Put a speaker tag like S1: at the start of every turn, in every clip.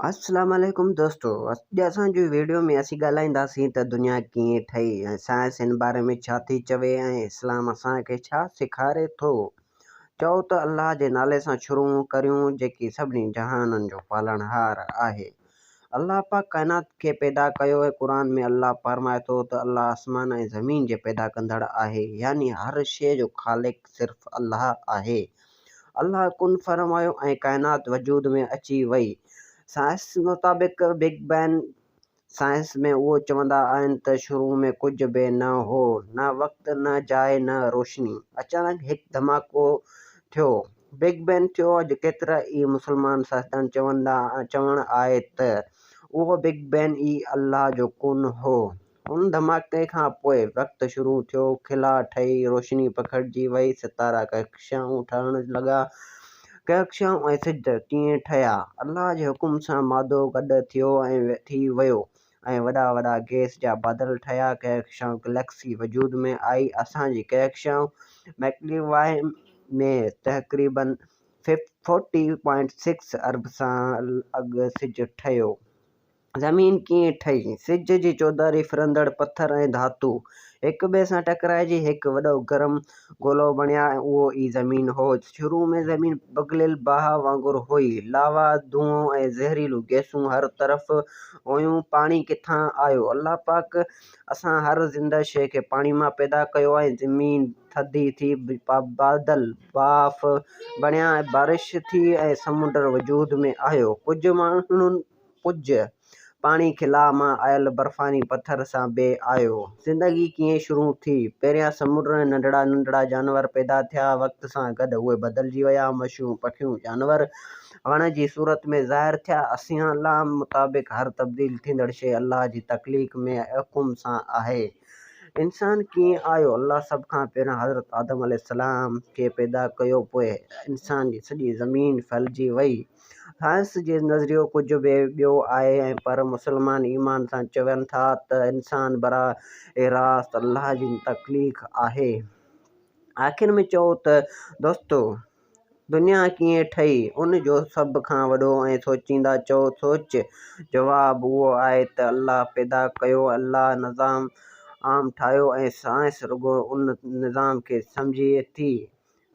S1: السلام عليڪم دوستو اڄ اسان جو ويڊيو ۾ اسين ڳالهائينداسين ته دنيا ڪيئن ٺهي ۽ سائنس ان باري ۾ ڇا ٿي چوي ۽ اسلام اسان کي ڇا سيکاري ٿو چئو ته الله جي نالي سان شروع ڪريون جيڪي سڀني جهانن جو پالڻهار آهي الله پاڪ ڪائنات کي پيدا ڪيو ۽ قرآن ۾ الله فرمائي ٿو ته الله آسمان ۽ زمين جي پيدا ڪندڙ آهي يعني هر شيء جو خالق صرف الله آهي الله ڪن فرمايو ۽ ڪائنات وجود ۾ اچي وئي. سائنس مطابق بگ بين سائنس ۾ اهو چوندا آهن ته شروع ۾ ڪجهه به نه هو، نه وقت، نه جاء، نه روشني. اچانڪ هڪ ڌماڪو ٿيو، بگ بين ٿيو. اڄ ڪيترا ئي مسلمان سائنسدان چوندا چوڻ آهي ته اهو بگ بين ئي الله جو ڪن هو. ان ڌماڪي کان پوء وقت شروع ٿيو، خلا ٺهي، روشني پکڙجي وئي، ستارا ڪهڪشائون ٺاهڻ لڳا. ڪهڪشائون ۽ سج ڪيئن ٺهيا؟ الله جي حڪم سان مادو گڏ ٿيو ۽ ٿي ويو ۽ وڏا وڏا گئس جا بادل ٺهيا، ڪهڪشائون گليڪسي وجود ۾ آئي، اسان جي ڪهڪشائون ميڪلي واء ۾ تقريباً فورٽي پوائنٽ سڪس ارب سال اڳ سج ٺهيو. زمين ڪيئن ٺهي؟ سج جي چوڌاري ڦرندڙ پٿر ۽ ڌاتو هڪ ٻئي سان ٽڪرائجي هڪ وڏو گرم گولو بڻيا ۽ اهو ئي زمين هو. شروع ۾ زمين پگهليل باهه وانگر هئي. لاوا، دونهون ۽ زهريلون گئسون هر طرف هيون. پاڻي ڪٿان آيو؟ الله پاڪ اسان هر زنده شيء کي پاڻي مان پيدا ڪيو آهي. زمين ٿڌي ٿي، بادل، ڀاڦ، بڻيا ۽ بارش ٿي ۽ سمنڊ وجود ۾ آيو. ڪجهه ماڻهن پڄ، پاڻي خلا مان آيل برفاني پٿر سان بي آيو. زندگي ڪيئن شروع ٿي؟ پهريان سمنڊ ۾ ننڍڙا ننڍڙا جانور پيدا ٿيا، وقت سان گڏ اهي بدلجي ويا، مڇيون، پکيون، جانور وڻ جي صورت ۾ ظاهر ٿيا، اسيالام مطابق هر تبديل ٿيندڙ شيء الله جي تخليق ۾ حڪم سان آهي. انسان ڪيئن آيو؟ الله سڀ کان پهريان حضرت آدم عليه السلام کي پيدا ڪيو، پوء انسان جي سڄي زمين ڦهلجي وئي. سائنس جي نظريو ڪجهه به ٻيو آهي ۽ پر مسلمان ايمان سان چون ٿا ته انسان براهه راست الله جي تخليق آهي. آخر ۾ چئو ته دوستو دنيا ڪيئن ٺهي؟ ان جو سڀ کان وڏو ۽ سوچيندا چئو سوچ جواب اهو آهي ته الله پيدا ڪيو، الله نظام عام ٺاهيو ۽ سائنس رڳو ان نظام کي سمجهي ٿي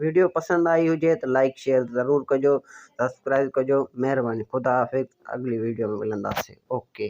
S1: ويڊيو پسند آئي هجي ته لائيڪ شيئر ضرور ڪجو سبسڪرائيب ڪجو مهرباني خدا حافظ اڳلي ويڊيو ۾ ملنداسين اوڪي.